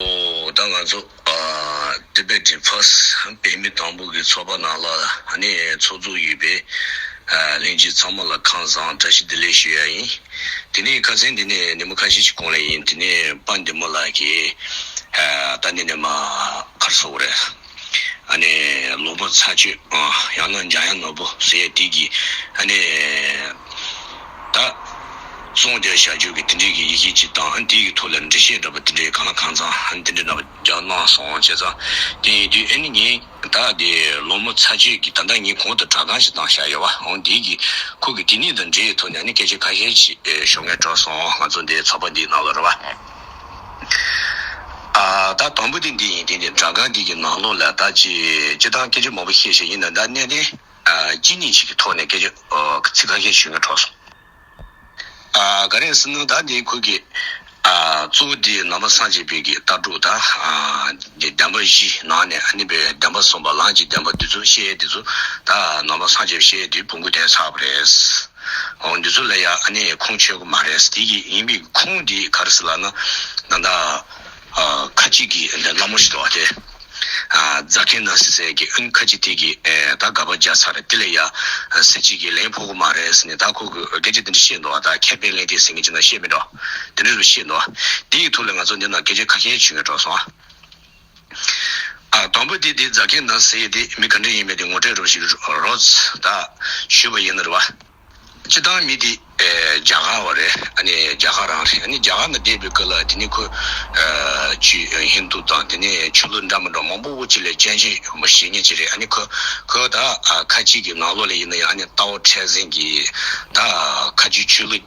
ད་ང་ཚོ Tibetan First བོད་མི་དང་པོ་གི་ཚོགས་པ་ནང་ལ་ནི་ཚོགས་བཙུགས་ཡོད་པས་གླིང་རྗེ་ཚང་མ་ལ་ཁང་བཟང་བཀྲ་ཤིས་བདེ་ལེགས་ཞུ་ཡ་ཡིན། དེ་ནས་ཁ་ཟས་འདི་ནས་ནི་མོ་ཁ་ཤས་ཅིག་གོང་ལ་ཡིན་དེ་ནས་པ་འདི་མོ་ལ་གི་ད་ནི་ནི་མ་ཁར་སོག་རེད། ཨ་ནེ། ལོ་པོ་ཚ་སྤྱོད། ཡང་ན་འཇང་ཡང་ནོར་བུ་ཟེར་ཡས་དིག་གིས། ཨ་ནེ། ད། གསུང་བརྒྱ་བྱ་སྤྱོད་ཀྱི་དེ་འདྲས་ཀྱི་ཡི་གེ་གཅིག་དང་ཨ་དེའི་ཐུགས་ལ་འགྲེལ་བཤད་འདྲ་པོ་དེ་འདྲས་གང་ལ་གང་ཚང་ཨ་དེ་འདྲས་འདྲ་པོ་རྒྱག་གནང་སོང་བྱས་ཙང་དེ་ཡིན་དུས་ཨ་ནེ་ངས་ད་དེ་ལོ་མོ་ཚ་སྤྱོད་ཀྱི་ད་ལྟ་ངས་གོང་དུ་དྲ་ཁང་ཞིག་བཏང་བཞག་ཡོད་བ་ཨང་དེའི་གི་ཁུག་གི་དེ་གཉིས་དང་འབྲེལ་ཡོད་ཐོག་ནས་ཨ་ནེ་སྐད་ཆ་ཁ་ཤས་ཤིག་ཞོག་ངས་དྲོ་སོང་ང་ཚོ་འདའི་ཚོགས་པ་འདིའི་ནང་ལ་རོལ་བ། ད་དང་པོ་དེ་འདི་ཡིན་དེ་ནི་དྲ་ཁང་འདི་ཀྱི་ནང་ལོགས་ལ་ད་ཅི་ཅི་དང་སྐད་ཆ་མང་པོ་བཤད་བཤད་ཡིན་ན་ད་གནས་བརྟན་སྐྱིད་གཉིས་ཞིག་གི་ཐོག་ནས་སྐད་ཆ་ཚིག་ཁ་ཤས་ཞུས་ན་འཕྲོག་སོང། ག་རེ་ཟིན་ན་ད་འདི་ཁུལ་གྱི་གཙོ་བོ་འདི་ནང་པ་སངས་རྒྱས་བོད་ཀྱི་ལྟ་གྲུབ་ད་འདི་བདེན་པ་བཞི་ནང་ནས་ཨ་ནི་བའི་བདེན་པ་གསུངས་པ་ལངས་ཀྱི་བདེན་པ་འདི་ཚོ་བཤད་ཡས་འདི་ཚོ་ད་ནང་པ་སངས་རྒྱས་བཤད་ཡས་འདི་བོང་གུ་བསྟན་ཚར་བ་རེད། འོ་འདི་ཚོ་ལ་ཡང་ཨ་ནེ་ཡའི་ཁུངས་ཆོད་ཀྱི་མ་རེད་ཟེར་དེ་ཡིན་པའི་ཁུངས་དེ་ག་རེ་ཟེར་ལགས་ན་ད་ལྟ་ཁ་ཅིག་གིས་འདི་བླ་མ་ཞིག་འདུག་བ་དེ་རྫ་མཁན་ནང་སྲིད་ཟེར་གི་ཨིན་ཁ་ཅིག་དེ་གིས་ད་དགག་པ་རྒྱག་ཚར་རེད་དེ་ལ་ཡང་སྲིད་ཅིག་གིས་ལན་ཕོག་གི་མ་རེད་ཟེར་ནས་ད་ཁོ་གིས་སྐད་ཆ་དེ་འདྲ་བཤད་འདུག་བ་ད་ཁྱད་པའི་ལན་དེ་ཟེར་མཁན་ཅིག་ན་ཤེས་མེད་འགྲོ་དེ་འདྲ་རུ་བཤད་འདུག་བ་དེ་ཡི་ཐུགས་ལ་ང་ཚོ་འདི་ན་སྐད་ཆ་ཁ་ཤས་བྱུས་ངན་སྒྲོག་སོང། དང་པོ་དེ་དེའི་རྫ་མཁན་དང་ཟེ་དེ་མི་ག་འདྲེ་ཡིན་མེད་དེ་ངོ་སྤྲད་རོགས་ཞིག་རོགས་དང་ཞུས་པ་ཡིན་ནོར་བ། སྤྱི་བཏང་མི་དེ་རྒྱ་གར་བ་རེད་ཨ་ནི་རྒྱ་གར་རང་རེད་ཨ་ནི་རྒྱ་གར་ན་བསྡད་པའི་སྐོར་ལ་དེ་ནས་ཁོས་ཆུས་ཧིན་དུ་དང་དེ་ནས་ཆོས་ལུགས་འདྲ་མི་འདྲ་མང་པོ་བོ་ཅི་ལས་སྤྱན་ཆེ་ཡོད་མོ་ཞེ་ངེས་ཅི་རེད་ཨ་ནི་ཁོས་ཁོས་ད་ཁ་ཅིག་གི་ནང་ལོག་ལས་ཡིན་ན་ཡང་ཨ་ནི་རྟའོ་ཁྲལ་ཟིན་གྱིས་ད་ཁ་ཆུས་ཆོས་ལུགས།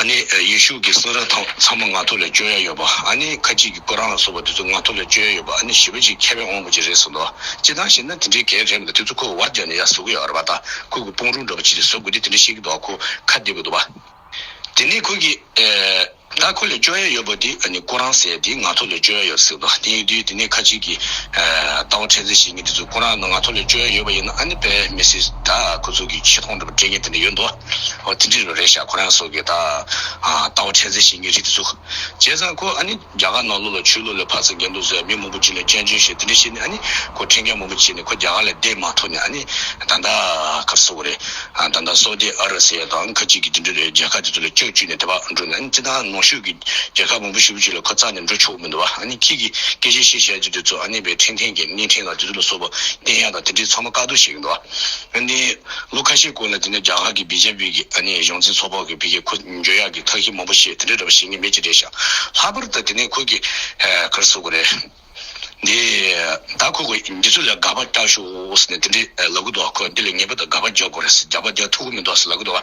ཨ་ནི་ཡེ་ཤུ་གི་སེང་ར་དང་ཚངས་མ་ང་ཐོ་ལས་སྤྱོད་ཡ་ཡོད་པ་ཨ་ནི་ཁ་ཅིག་གི་ཀོ་རང་ལ་སོགས་པ་དེ་ཚོ་ང་ཐོ་ལས་སྤྱོད་ཡ་ཡོད་པ་ཨ་ནི་བཞི་པ་ཅིག་ཁ་བས་འོང་བ་ཅིག་རེད་གསུངས་འདུག་ཅི་ལྟར་ཞེ་ན་དེ་འདྲའི་གས་རེམ་ལ་དེ་ཚོ་ཁོ་བོ་བར་བརྒྱག་ནས་ཡ་བཟོ་གི་ཡོད་རེད་པ་དང་ཁོ་གི་སྤུང་རུང་འདྲ་པོ་ཅིག་ལས་བཟོ་དགོས་དུས་དེ་འདྲ་བཤད་གི་འདུག་ཨ་ཁོ་ཁ་བདེ་པོ་འདུག་བ། དེ་ནས་ཁོ་གི། ད་ཁོ་ལས་སྤྱོད་ཡ་ཡོད་པ་དེ་ཨ་ནི་ཀོ་རང་ཟེར་དེ་ང་ཐོ་ལས་སྤྱོད་ཡ་ཡོད་གསུངས་འདུག་དེ་ཡིན་དུས་དེ་ནས་ཁ་ཅིག་གི། ལྟ་བ་ཕྲན་ཚེགས་ཤིག་ཡིན་གི་དེ་ཚོ་ཀོ་རང་ནང་ང་ཐོ་ལས་སྤྱོད་ཡ་ཡོད་པ་ཡིན་ན་ཨ་ནི་བས་མི་སྲིད་ད་ཁོ་ཚོ་གི་ཆེ་མཐོང་འདྲ་པོ་དྲན་མཁན་དེ་འདྲ་ཡོད་འདུག། ཨོ་ཏི་ཏི་རུ་རེ་ཤ་ཁོ་རང་སོགས་ཀྱིས་ད་ལྟ་བ་ཁྲལ་འཛིན་བྱེད་མཁན་རིགས་དེ་ཚོ། བྱས་ཙང་ཁོ་ཨ་ནི་རྒྱ་གར་ནང་ལོག་ལ་ཆོས་ལུགས་ལ་ཕར་ཚད་འགལ་འདུག་ཟེར་མི་མང་པོ་ཅིག་ལ་སྐྱོན་བརྗོད་བྱས་དེ་འདྲ་བྱས་ནས་ཨ་ནི་ཁོ་ཁྲེལ་འགལ་མང་པོ་བྱས་ནས་ཁོ་རྒྱ་གར་ལས་བསྡད་མ་ཐུབ་ནས་ཨ་ནི་ད་ལྟ་ཁ་བསུ་བ་རེད། ད་ལྟ་སོག་ཏི་ཨ་ར་སི་ཡ་དང་ཁ་ཅིག་གིས་དེ་འདྲ་རེད་རྒྱལ་ཁབ་དེ་ཚོ་ལ་སྐྱོན་བརྗོད་ནས་དེ་བ་འགྲོ་ནས་ཨ་ནི་བརྩི་ད་ནང་ཤུགས་ཀྱིས་རྒྱལ་ཁབ་མང་པོ་ཞིག་པོ་ཅིག་ལ་ཁོ་རྩ་ནས་འགྲོ་ཆོག་གི་མི་འདུག་བ་ཨ་ནི་ཁྱེད་ཀྱིས་སྐད་ཆ་བཤད་བཤད་ཀྱིས་དེ་ཚོ་ཨ་ནི་བའི་ཁྲིན་ཐེན་གྱི་གནས་ཁྲིན་ལ་དེ་ཚོ་ལ་སོགས་པ་བསྟན་ཡ་དང་དེ་འདྲའི་ཚང་མ་བཀག་སྡོམ་བྱེད་གི་འདུག་བ། ཨ་ནི། ལོ་ཁ་ཤས་གོང་ལ་དེ་ནས་རྒྱ་གར་གྱི་བི་ཇེ་པི་གྱི་ཨ་ནི་གཞུང་འཛིན་ཚོགས་པ་གི་བི་ཀེ་ཁོ་འཇོལ་ཡག་གི་ཐག་ཤི་མང་པོ་བཤད་དེ་འདྲའི་ར་བ་བྱེད་ངེས་མེད་ཅི་རེད་ཤག་ལྷག་པར་ད་དེ་ནས་ཁོ་གི་ཀར་སོ་གོ་རེད་འདི་ད་ཁོ་གི་འདི་ཚོ་ལ་དགའ་བ་རྟགས་ཤོ་ཨོ་ཟེར་ནས་དེ་འདྲའི་ལ་གུ་དོག་ཁོ་འདི་ལ་ངེས་པ་ད་དགའ་བ་རྒྱག་གོ་རེད་ཟེར་རྒྱག་པ་རྒྱག་ཐུག་གོ་མི་འདོག་ཟེར་ལ་གུ་དོག།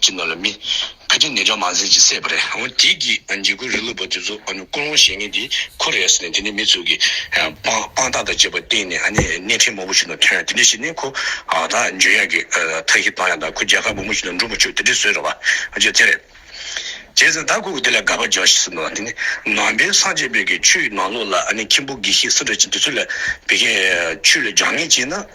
ཅི་ནོར་ལ་མི། ཁ་ཅིག་ནད་ལྗོངས་མ་ཟིན་ཅིག་སེ་བ་རེད། འོ་དེ་གི་འཇིགས་སྐུལ་རི་ལུ་བ་དེ་ཚོ་ཀུན་སློང་བྱེད་ངེས་དེ་ཁོ་རེད་ཟེར་ནས་དེ་ནས་མི་ཚུགས་གི། དཔང་རྟགས་དང་བཅས་པ་བསྟན་ནས་ཨ་ནི་སྣེ་ཁྲིད་མང་པོ་ཞིག་ནང་ཐོན་དེ་འདྲས་བྱས་ནས་ཁོ་ད་འཇོན་ཡག་གི་ཐ་ཤི་བཏང་ཡག་དང་ཁོ་རྒྱལ་ཁ་མང་པོ་ཞིག་ནང་འགྲོ་མ་བཅུག་དེ་འདྲས་བཟོས་རེད་བ། བརྗོད་ཚད་རེད། བྱས་ཙང་ད་ཁོ་གི་དེ་ལ་དགའ་བ་རྒྱག་ཤི་ཟེར་ནོ་དེ་ནི་ནང་པའི་སངས་རྒྱས་བོད་ཀྱི་ཆོས་ནང་ལོགས་ལ་ཨ་ནི་ཁྱིམ་པོ་དགེ་བཤེས་སི་ར་ཅན་དེ་ཚོ་ལ་བད་ཀན་ཆོས་ལ་རྒྱག་ངེས་བྱས་ན།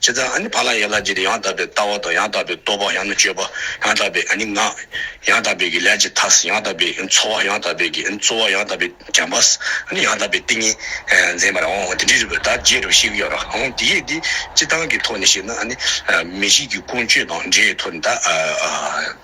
ཇི་ལྟར་ཨ་ནི་བ་ལང་ཡན་ལག་བརྒྱད་དེ་ཡང་དག་པའི་ལྟ་བ་དང་ཡང་དག་པའི་རྟོག་པ་ཡང་ན་སྤྱོད་པ་ཡང་དག་པའི་ཨ་ནི་ངག། ཡང་དག་པའི་གི་ལས་ཀྱི་མཐའ། ཡང་དག་པའི་འཚོ་བ་ཡང་དག་པའི་གི་རྩོལ་བ་ཡང་དག་པའི་བྱམས་པ། ཨ་ནི་ཡང་དག་པའི་ཏིང་ངེ་འཛིན་པར་འོང་དེ་འདྲི་རུ་བས་ད་རྒྱས་རུ་ཤིག་ཡོད་ར་འོང་དེ་ཡིས་འདི་སྤྱི་སྟངས་ཀྱི་ཐོག་ནས་བཤད་ན་ཨ་ནི། མི་གཤིས་ཀྱི་ཀུན་སྤྱོད་དང་འབྲེལ་ཡོད་ཐོག་ནས་ད།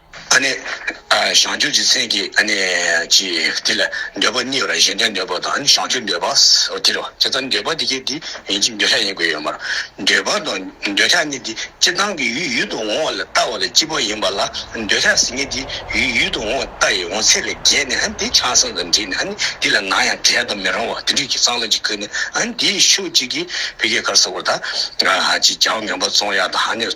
བྱང་ཆུབ་ཀྱི་སེམས་ཀྱི། དེ་ལ་འདོད་པ་གཉིས་པ་ལ་གཞན་དོན་འདོད་པ་དང་བྱང་ཆུབ་འདོད་པ། དེ་རུ་ཇི་ལྟར་འདོད་པ་དེ་སྐད་དེ་ཡིན་གཅིག་འདོད་ཆགས་ཡིན་དགོས་ཡོད་མ་རུང། འདོད་པ་དང་འདོད་ཆགས་གཉིས་དེ་སྤྱི་དང་གི་ཡུལ་ཡུལ་དུ་འོང་བ་ལས་ལྟ་བ་ལས་སྐྱིད་པོ་ཡིན་པ་ལ་འདོད་ཆགས་ཟིན་གཉིས་དེ་ཡུལ་ཡུལ་དུ་འོང་ལྟ་ཡི་འོང་ཚད་ལས་བརྒལ་ནས་དེ་ཆགས་སེམས་དང་འདྲེས་ནས་དེ་ལ་ནང་ཡང་བྲལ་དུ་མི་རུང་བ་དེ་འདྲིས་ཀྱི་གཙང་ལ་གཅིག་ཁུར་ནས་དེ་ཡི་ཤུགས་གཅིག་གིས་བི་གའི་གར་སོགས་པར་དག། ཅིག་ཅར་བ་ངན་པ་བཙོང་ཡག་དང་ནས།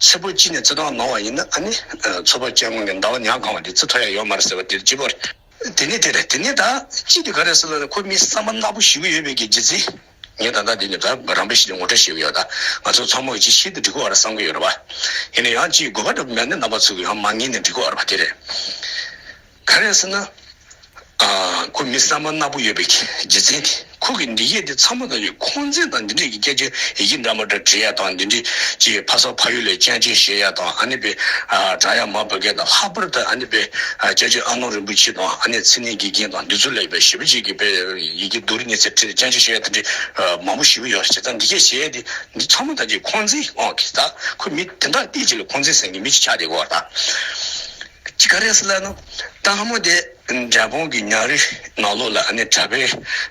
ཚེ་པོ་ཅི་ནས་ཙི་ཐོག་ནོར་བ་ཡིན་ན་ནི། ཚོ་པ་ཅན་ངོས་ནས་ཟླ་བ་ཉག་གང་བ་དེ་ཙི་ཐོ་ཡ་ཡོད་མ་རེད་ཟེར་བ་དེར་སྐྱིད་པོ། དེ་ནི་དེ་རེད་དེ་ནི་ད། ཅི་དེ་ག་རེད་ཟེར་ལ་ཁོ་མི་བསམ་པ་ནག་པོ་ཞིག་གི་ཡོད་བེད་ཀྱི་ཇི་ཙི། ངས་ད་ལྟ་དེ་ནི་ད་རང་འབད་ཞིག་ནས་ངོ་སྤྲོད་བྱེད་ཀྱི་ཡོད་ད། ང་ཚོ་ཚང་མ་གི་ཅི་ཤེས་ཏེ་འགྲིག་གི་བ་ར་བསམ་གི་ཡོད་ར་བ། ཡིན་ན་ཡང་ཅིའི་དགོས་པ་འདྲ་པོ་མེད་ནས་ནང་པ་ཚོ་གི་ཡང་མ་ངེས་ནས་འགྲིག་གི་བ་ར་བ་དེ་རེད། ག་རེ་ཟེར་ན། ཁོ་མི་གསར་མ་ནག་པོ་ཡོད་པའི་རྗེས་འཛིན་གྱིས་ཁོ་གི་འདི་སྐད་དེ་ཚང་མ་དང་ཡོད་ཁོང་འཛིན་དང་འདི་འདྲས་ཀྱི་སྐད་ཆ་ཡི་གེ་འདྲ་མ་འདྲ་འབྲི་ཡ་དང་འདི་འདྲས་ཀྱི་ཕ་ས་ཕ་ཡུལ་ལས་སྤྱན་ཆེན་བཞེས་ཡ་དང་ཨ་ནེ་པའི་བྲག་ཡ་མ་བོད་སྐད་དང་ལྷག་པར་དུ་ཨ་ནེ་པའི་སྐྱབས་རྗེ་ཨ་ནོ་རིན་པོ་ཆེ་དང་ཨ་ནེ་ཚེ་ནིའི་དགེ་རྒན་དང་འདི་ཚོ་ལས་པའི་བཞི་པ་བཅས་ཀྱི་པའི་ཡི་གེ་བསྡུ་རུ་ཉེ་ཚེ་སྤྱན་ཆེན་བཞེས་ཡ་དེ་འདྲས་མང་པོ་ཞིག་བུ་ཡོད་བྱས་ཙང་འདི་སྐད་བྱས་ཡ་དེ་འདི་ཚང་མ་དང་ཀྱི་ཁོང་འཛིན་ཨོ་ཁི་ད་ཁོ་མི་དེ་འདྲ་ལྟས་ཅི་ལ་ཁོང་འཛིན་ཟེར་གི་མི་ཅིག་ཆགས་འདེགས་གོ་ད། ཇི་ག་རེས་ལ་ནི་སྟག་མོ་དེ་འབྲས་སྤུངས་ཀྱི་ཉག་རི་ནག་ལོ་ལ་ནི་གྲྭ་པའི་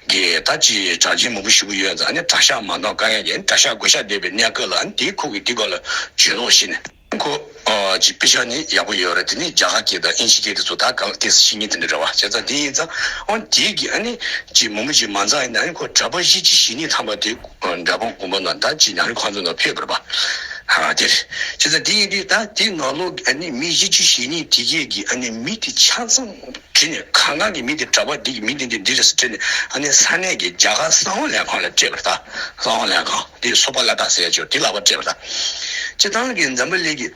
གི་ད་ཅི་གྲགས་ཅན་མང་པོ་ཞིག་པོ་ཡོད་ཙང་ནི་གྲྭ་ཤག་མ་གཏོགས་ཀ་ཡང་ཡིན་གྲྭ་ཤག་དགོན་ཤག་བསྡད་པའི་གནས་སྐོར་ལ་ནི་དེའི་ཁུག་གི་འདི་གོ་ལ་བྱོན་ལོག་ཤིག་ནི། ཁོ་ཅི་དཔེ་ཆ་ནི་ཡག་པོ་ཡོད་རེད་དེ་ནི་རྒྱ་གར་གྱི་ད་ཨིན་ཇི་སྐད་དེ་ཚོ་ད་གང་ལ་ཏེས་ཤིག་ཉིན་དེ་འདྲ་རེད་བ་བྱས་ཙང་དེ་ཡིན་ཙང་འོན་དེའི་གི་ཨ་ནི་ཅི་མང་པོ་ཅིག་མ་འཛག་ཡིན་ན་ནི་ཁོ་གྲྭ་པ་བཞི་ཅིག་བཞི་གཉིས་ཐམ་པ་དེ། འདྲ་པོ་བསྒོམ་པ་ན་བདག་ཅི་ཡང་ཁོང་ཚོ་ན་ཕེབས་པར་བ་དེར་ཅི་ཚ་དེ་ཡིན་དུས་ད་དེ་ང་ལོ་མི་བཞི་ཅི་ཞེ་གཉིས་དེ་སྐད་ཀྱི་མི་དེ་ཆ་ཚང་བྲིས་ནས་གང་གང་གི་མི་དེ་གྲྭ་པ་འདི་ཀྱི་མི་འདི་འདི་འདི་རེད་ཟེར་བྲིས་ནས་ས་གནས་ཀྱི་རྒྱ་གར་གསང་བ་ལས་ཁང་ལ་སྤྲད་པར་ད་གསང་བ་ལས་ཁང་དེ་སོ་པ་ལ་ད་ཟེར་ཡ་ཆོས་དེ་ལག་པར་སྤྲད་པར་ད་ཅི་ཐང་གི་འཛམ་བུ་གླིང་གི།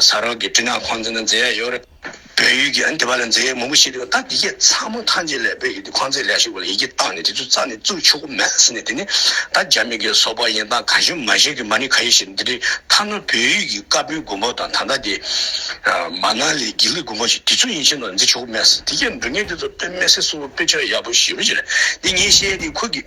ཟ་རོག་གི་སྤྲིན་ནག་ཁོང་ཚོ་ནི་མཛེས་ཡག་ཡོད་རེད། བོད་ཡུལ་གྱི་འདི་བ་ལ་མཛེས་ཡག་མང་པོ་ཞིག་རེད་ད་འདི་སྐད་ཚང་མ་ཐང་ཆེན་ལས་བོད་ཡུལ་འདི་ཁོང་ཚོས་ལས་ཞུགས་པ་ལ་ཡིད་ཀྱིས་བཏང་ནས་དེ་ཚོ་རྩ་ནས་བཙུགས་ཆོག་གོ་མེད་ཟེར་ནས་དེ་ནི་ད་རྒྱ་མི་གི་སོ་པ་ཡིན་སྟངས་ག་ཞིག་མ་ཤེས་གི་མ་ནི་ག་ཡིན་ཞེས་འདི་འདྲའི་ཐ་ན་བོད་ཡུལ་གྱི་དཀར་པོའི་དགུན་འབོ་དང་ད་ལྟ་དེ་མ་ནག་ལས་དགེ་ལུགས་དགུན་འབོ་ཞིག་དེ་ཚོ་ཡིན་ཕྱིན་ནོར་འཛིན་ཆོག་གོ་མེད་ཟེར་དེ་སྐད་འབྲུ་ངན་དེ་ཚོ་དཔེ་མེད་ཟེར་གསུངས་པ་དཔེ་ཆ་ཡག་པོ་ཞིབ་རེ་བྱེད་ནས་འདི་ངས་བཤད་དེ་ཁུར་གི།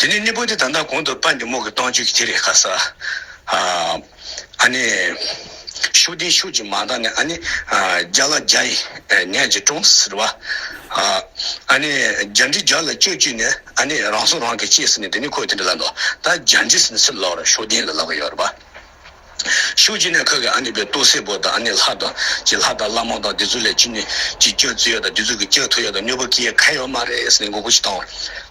དེ་ནས་གནས་སྤོས་ཏེ་ད་ལྟ་གོང་དུ་པད་འབྱུང་མོ་གི་སྟོང་བཅུད་ཀྱི་ཐིག་ལེ་ཁ་ས། ཨཱ་ནི། ཤུགས་ལྡན་ཤུགས་ཀྱི་མ་དག་ནི་ཨཱ་ནི། བརྒྱ་ལ་བརྒྱ་ཡི་ནད་ཀྱི་གྲོང་ཟེར་བ། ཨཱ་ནི། བརྒྱ་འབྲི་བརྒྱ་ལ་བཅོས་བཅུད་ནི་ཨཱ་ནི་རང་སྲོག་རང་གིས་བཅད་ཟེར་ནས་དེ་ནས་ཁོས་དེ་འདྲ་ལབ་ནོ། ད་བརྒྱ་འབྲི་ཟེར་ནས་ཕྱིར་ལོག་རོགས་ཤུགས་ལྡན་ལ་ལབ་ཀྱི་ཡོད་རེད་པ། ཤུགས་ཀྱིས་ནི་ཁག་གི་ཨཱ་ནི་པའི་ལྟོ་སེར་པོ་དང་ཨཱ་ནི་ལྷ་དང་ཀྱི་ལྷ་དང་བླ་མ་དང་དེ་ཚོ་ལས་ཅི་ནས་ཅི་སྐྱོན་བཙུད་ཡོད་དང་དེ་ཚོ་གི་སྐྱོན་ཐོབ་ཡོད་དང་གནོད་པོ་སྐྱེལ་ཁ་ཡོད་མ་རེད་ཟེར་ནས་མགོ་སྐོར་ཞིག་བཏང་བ།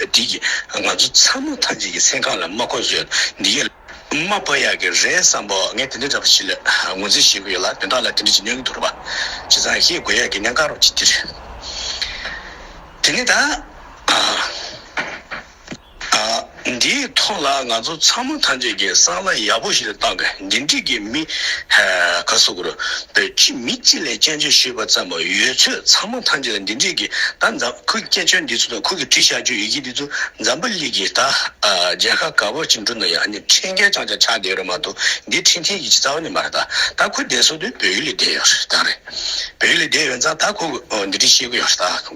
འགྲིག་གི། ང་ཚོ་ཚང་མ་ཐམས་ཅད་ཀྱི་སེམས་ཁམས་ལ་མ་གོ་བཟོད་འདི་ཡོད། མ་བབ་ཡག་གི་རེད་བསམ་པོ་ངས་དེ་འདྲ་འདྲ་པོ་ཞིག་ལ་ངོས་འཛིན་བྱེད་ཀྱི་ཡོད་ལ་དོན་དག་ལ་དེ་འདྲ་ཅིག་སྙོན་གྱི་འདུག་རེད་པ། བྱས་ཙང་ཤེས་དགོས་ཡག་གི་གནད་འགག་རོགས་ཅིག་འདིར། དེ་ནས་ད། འདིའི་ཐོག་ལ་ང་ཚོ་ཚང་མ་ཐམས་ཅད་ཀྱིས་སང་ལ་ཡག་པོ་ཞིག་ལ་བཏང་དགོས། འབྲེལ་འདྲིས་ཀྱི་མི། ཁ་སོ་གོར། པའི་ཁྲིད་མི་གཅིག་ལས་སྐྱོན་བརྗོད་ཞུས་པ་ཙམ་མ་ཡོད་ཚོད་ཚང་མ་ཐམས་ཅད་ལ་འབྲེལ་འདྲིས་ཀྱི་ད་འཛམ་ཁོའི་སྐད་ཆོལ་འདི་ཚོ་དང་ཁོ་གི་བྲིས་བཞག་རྒྱུ་ཡི་གེ་འདི་ཚོ་འཛམ་བུ་གླིག་གི་ད་རྒྱལ་ཁ་ག་བོར་ཅིག་འགྲོ་ན་ཡང་ནི་འཕྲིན་སྐད་ཅང་ཅང་ཆགས་བསྡད་རོགས་མ་གཏོགས་འདི་འཕྲིན་ཐིང་གི་ཅི་རྩ་བ་ནས་མ་རེད་ད་ད་ཁོ་བསྡད་སོང་དུས་བོད་ཡུལ་ལས་བསྡད་ཡོད་རེད་ད་རེད་བོད་ཡུལ་ལས་བསྡད་ཡོད་ཙང་ད་ཁོ་འདི་འདྲི་ཤེས་གི་ཡོད་རེད་ད།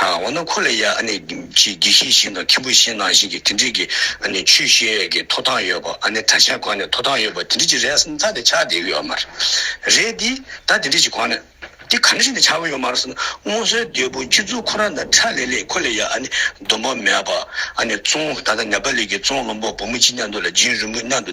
འོ་ན་ཁོ་ལ་ཡང་ཆེས་དགེ་བཤེས་བཞིན་དང་མཁན་པོ་བཞིན་ནང་བཞིན་གྱི་དེ་འདྲིས་ཀྱི་ཆོས་བཤད་ཀྱི་ཐོབ་ཐང་ཡོད་པ་གྲྭ་ཤག་གང་ནས་ཐོབ་ཐང་ཡོད་པ་དེ་འདྲིས་ཀྱི་རེད་བསམ་ཚར་དེ་ཆགས་བསྡད་ཡོད་མ་རེད་དེ་ད་དེ་འདྲིས་ཀྱི་གང་ནས་དེ་ག་འདྲིས་བྱས་ནས་ཆགས་གི་ཡོད་མ་རེད་བསམ་སྔོན་སྲོལ་རྒྱལ་པོ་སྤྱི་གཙུག་ཁོ་རང་དང་ཁྲ་ལེ་ལེས་ཁོ་ལ་ཡང་སྡོམ་པ་མེད་པ་བཙོང་ད་ལྟ་ནེ་པ་ལི་ཀྱི་བཙོང་བློན་པོ་བུ་མོ་གཅིག་མཉམ་དུ་ལ་རྗེ་རིན་པོ་མཉམ་དུ་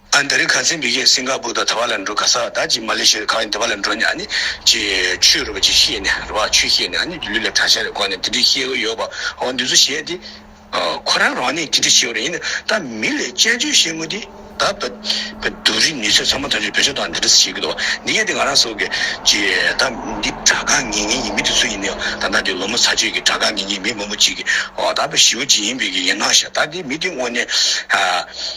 ཨ་འདི་རི་ག་ཚེ་འབི་ཁྱེད་སིང་ག་པུར་དང་དེ་བ་ལ་འགྲོ་ག་ས་ད་ཅི་མ་ལེ་ཤི་རི་ག་ཡིན་དེ་བ་ལ་འགྲོ་ནས་ཨ་ནི་ཅི་ཆུས་རུ་བ་ཅི་ཤེས་ནས་རུ་བ་ཆུས་ཤེས་ནས་ཨ་ནི་ལུས་ལ་དྲ་ཤ་རེ་བསྐོར་ནས་དེ་འདྲི་ཤེས་གི་ཡོད་པ་འོ་འདི་ཚོ་བཤད་དེ། ཁོ་རང་རང་ནས་དེ་འདྲི་ཤེས་བ་རེད་ཡིན་ན་ད་མི་ལས་དཔྱད་བརྗོད་བཤད་ངོ་དེ་ད་བ་འདུག་རི་ནི་ཚོས་ཚང་མ་ད་ཆོས་བོད་ཆོས་དང་འདི་འདྲི་ས་བཤད་གི་འདུག་འདི་ཡན་དེ་ང་རང་སོག་གི་ཅི་ད་འདི་དྲ་གང་ངེ་ངེ་ཡིན་མི་དེ་ཚོ་ཡིན་ནའི་ད་ད་འདི་ལོ་མོ་ཚ་ཆོས་ཀྱི་དྲ་གང་ངེ་ངེ་མི་མང་པོ་ཅིག་གི་འོ་ད་བ་ཞི་བ་ཅི་ཡིན་པའི་གི་ཡིན་ན་ཤ་ད་འདི་མི་དེ་དངོས་ནས་ཨ།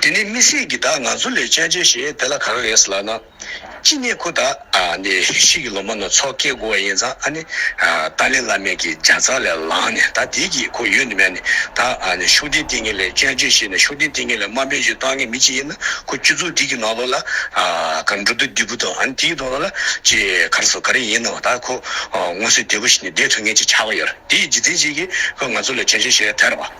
དེ་ནས་མི་སྲིད་ཀྱི་བདག་ང་ཚོ་ལས་ཅན་ཅན་ཞིག་དེ་ལ་ག་རེ་རེད་ལབ་ན། ཅི་ནས་ཁོ་ད་ནི་ཤི་གི་ལོ་མ་ནོར་ཚོགས་སྐྱེ་དགོས་བ་ཡིན་ཙང་ཨ་ནི་ཏཱ་ལའི་བླ་མས་ཀྱི་འཇའ་ཚག་ལས་ལངས་ནས་ད་དེའི་ཀྱི་ཁོ་ཡོད་ནི་མེད་ནི་ད་ནི་ཤུགས་ལྡན་ལྟེ་ངན་ལས་ཅན་ཅན་ཞིག་ནི་ཤུགས་ལྡན་ལྟེ་ངན་ལས་དམའ་འབེབས་ཅིག་གཏང་ངེས་མི་ཅིག་ཡིན་ན་ཁོ་སྐྱུ་ཚུགས་འདི་ཀྱི་ནང་ལོགས་ལ་ག་འགྲོ་འདུག་འདི་བུ་དང་ཨ་ནི་དེའི་གདོང་ལ་ཅི་ག་རེ་སོགས་ག་རེ་ཡིན་ནའང་ད་ཁོ་ངོ་སོའི་འདས་པོ་ཞིག་ནི་འདས་ཐུག་ངེས་ཅིག་ཆགས་ཀྱི་ཡོད་རེད་དེའི་རྗེས་འཛིན་ཅིག་གིས་ཁོ་ང་ཚོ་ལས་ཅན་ཅན་ཞིག་རེད་ཐལ་བ།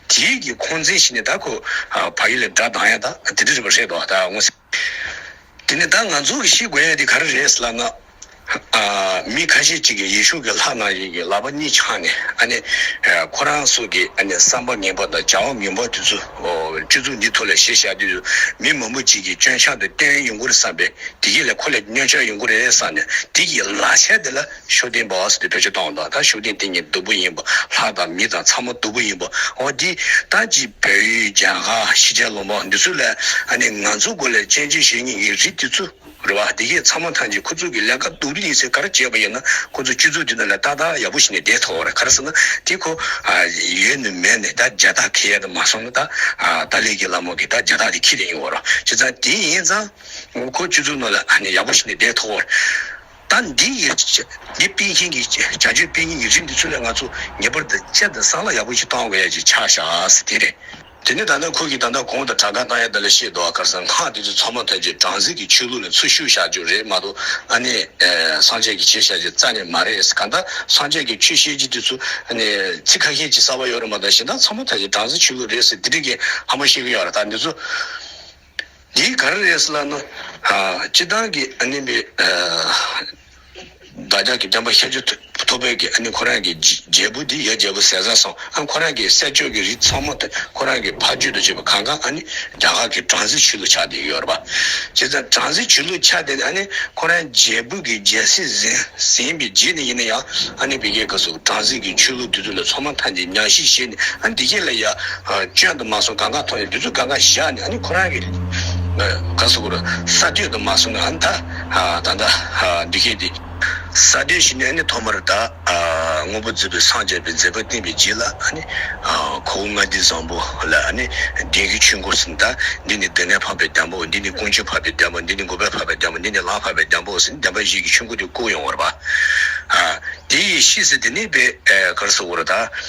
དེའི་གི་ཁོང་འཛིན་བཞིན་ནི་ད་ཁོ་བ་ཡིན་ལ་སྒྲ་གདངས་ཡང་ད་དེ་འདྲ་རེད་པ་རེད་ད་ངོ་སི་དེ་ནི་ད་ང་ཚོ་གི་ཤེས་དགོས་ཡ་དེ་ག་རེ་རེད་ལབ་ན་མི་ཁ་ཤས་ཅིག་གི་ཡེ་ཤུ་གི་ལྷ་ནང་བཞིན་གི་ལག་པ་གཉིས་ཆགས་ནས་ཨ་ནི་ཁོ་རང་སུ་གི་ཨ་ནི་བསམ་པ་ངན་པ་དང་བྱ་བ་ངན་པ་དེ་ཚོ་སྤྱི་ཚུགས་འདི་ཐོག་ལ་བཤད་བཞག་དུས་སུ་མི་མང་པོ་ཅིག་གི་སྐྱོན་ཆགས་དེ་བསྟན་ཡོང་གི་རེད་བསམ་པས་དེ་གི་ལ་ཁོ་ལ་སྙོན་ཆགས་ཡོང་གི་རེད་བསམ་ནས་དེ་གི་ལག་ཆ་དེ་ལ། ཤུགས་ལྡན་པ་བ་སི་ཏི་བཀྲ་ཤིས་སྟོང་དང་ད་ཤུགས་ལྡན་དེ་གཉིས་སྡུག་པོ་ཡིན་པ་ལྷ་དང་མི་དང་ཚ་མོ་སྡུག་པོ་ཡིན་པ་འོ་དེ་ད་ཅི་བོད་ཡུལ་རྒྱ་གར་གཞིས་ཆགས་ལོ་འབག་འདི་ཚོ་ལས་ཨ་ནི་ང་ཚོ་གོ་ལའི་སྤྱན་གཅིག་གཞལ་གཉིས་ཀྱི་རི་དེ་ཚོ་རེད་བ་དེ་གས་ཚ་མོ་ཐང་ཅིག་ཁོ་ཚོ་གི་ལས་ཀ་སྡུག་རི་ཡིན་ཟེར་གར་བྱས་པ་ཡིན་ན་ཁོ་ཚོ་སྤྱི་ཚོགས་འདི་ན་ལས་ཏག་ཏག་ཡག་པོ་ཞིག་ནས་བསྡད་ཐོག་རེད་གར་ཟེར་ན་དེ་ཁོ་ཨ་ཡོད་ནས་མེད་ནས་ད་རྒྱ་སྟག་ཁེ་ཡག་དེ་མ་སོང་ན་ད་ཨ་ཏཱ་ལའི་གི་ལ་མོ་གི་ད་རྒྱ་སྟག་དེ་ཁེ་རེ་ཡིན་བ་རོ་བྱས་ཙང་དེ་ཡིན་ཙང་ཁོ་སྤྱི་ཚོགས་ནང་ལས་ཨ་ནི་ཡག་པོ་ཞིག་ནས་བསྡད་ཐོག་རེད། ད་འདི་ཡི་འདི་སྤེལ་མཁན་གྱི་བྱ་སྤྱོད་སྤེལ་མཁན་གྱི་རིགས་འདི་ཚོ་ལས་ང་ཚོ་ངེས་པར་དུ་ཅེར་དང་བསམ་བློ་ཡག་པོ་ཞིག་གཏང་དགོས་ཡ་ཅེས་ཆ་བཞག་དེ་རེད། དེ་ནས་ད་ལྟ་ཁོ་གིས་ད་ལྟ་གོང་དུ་དྲ་སྒང་བཏང་ཡ་དེ་ལ་ཤེས་འདུག་ཨ་ཁར་སའི་ངག་དེ་ཚོ་ཚང་མ་ཐོན་རྗེས་དྲང་ཟིག་གི་ཆོས་ལུགས་ནས་ཚུར་བཤུ་བཞག་རྒྱུ་རེད་མ་གཏོགས་ཨ་ནི་སངས་རྒྱས་ཀྱི་བྱེད་བཞག་རྒྱུ་རྩ་ནས་མ་རེད་གང་ལྟར་སངས་རྒྱས་ཀྱི་ཆོས་བཤད་རྒྱུ་དེ་ཚོ་ཨ་ནི་ཚིག་ཁ་ཤས་ཀྱིས་གསར་བ་ཡོད་རེད་མ་གཏོགས་གཞན་དག་ཚང་མ་ཐོན་རྗེས་དྲང་ཟིག་ཆོས་ལུགས་རེད་ཟེར་དེ་རིགས་ཀྱི་ཧམ་པ་བཤད་ཀྱི་ཡོད་རེད་ད་འདི་ཚོ། འདིའི་ག་རེ་རེད་ལབ་ན། སྤྱི་བཏང་གི་ཨ་ནི་མི། བདག་ཅག་གི་བསྟན་པ་ཤེས་རྒྱུ་ཐོབ་པོད་ཀྱི་ཨ་ནི་ཁོ་རང་གི་རྒྱལ་པོ་འདི་ཡ་རྒྱལ་པོ་ཟས་ཟ་སོང་ཨ་ཁོ་རང་གི་སྲས་ཆོས་ཀྱི་རིགས་ཚང་མ་ཁོ་རང་གི་ཕ་རྒྱུད་དུ་བྱས་པ་གང་གང་ཨ་ནི་རྒྱ་གར་གྱི་བྲང་ཟི་བྱི་ལུ་ཆགས་དེ་ཡོད་རེད་པ། བྱས་ཙང་བྲང་ཟི་བྱི་ལུ་ཆགས་དེ་ཨ་ནི་ཁོ་རང་རྒྱལ་པོ་གི་རྒྱལ་སྲིད་ཟིན་པའི་རྗེས་ནས་ཡིན་ན་ཡང་ཨ་ནི་བི་ཀའི་སྐབས་སུ་བྲང་ཟི་གི་ཆོས་ལུགས་དེ་ཚོ་ལ་ཚོ་མ་མཐའ་འདི་ཉག་གཞི་ཤེས་ནས་ཨ་ནི་འདི་སྐད་ལ་ཡ། སྤྱོད་དུ་མ་སོང་གང་ག་ཐོག་ཡོད་དུས་ཚོད་གང་ག་བཞག་ནས་ཨ་ནི་ཁོ་རང་གི་ག་སོ་ཀུར་ས་སྟོད་དུ་མ་སོང་ནས་ཨ་ནི་ད་ད་ད་འདི་སྐད་དེ། ས་སྟོད་ཞིག་ནས་ཨ་ནི་ཐོག་མར་ད་དངོས་པོ་མཛེས་པོས་སངས་རྒྱས་པའི་མཛད་པ་བསྟན་པའི་རྗེས་ལ་ཨ་ནི་ཁོ་བོ་མངའ་སྡེ་བཟང་པོ་ལ་ཨ་ནི་བདེན་བཞིའི་ཆོས་འཁོར་ཟིན་ད་འདི་ནི་སྡོད་གནས་འཕགས་པའི་གདན་པོ་འདི་ནི་ཀུན་སྤྱོད་འཕགས་པའི་གདན་པོ་འདི་ནི་མགུ་བར་འཕགས་པའི་གདན་པོ་འདི་ནི་ལམ་འཕགས་པའི་གདན་པོ་ཟིན་གདན་པ་བཞི་ཀྱི་ཆོས་འཁོར་དེ་བསྐོར་ཡོང་བར་བ། དེ་ཡི་ཤེས་སུ་དེ་ནི་པའི་གར་སོ་ཀུར་ད།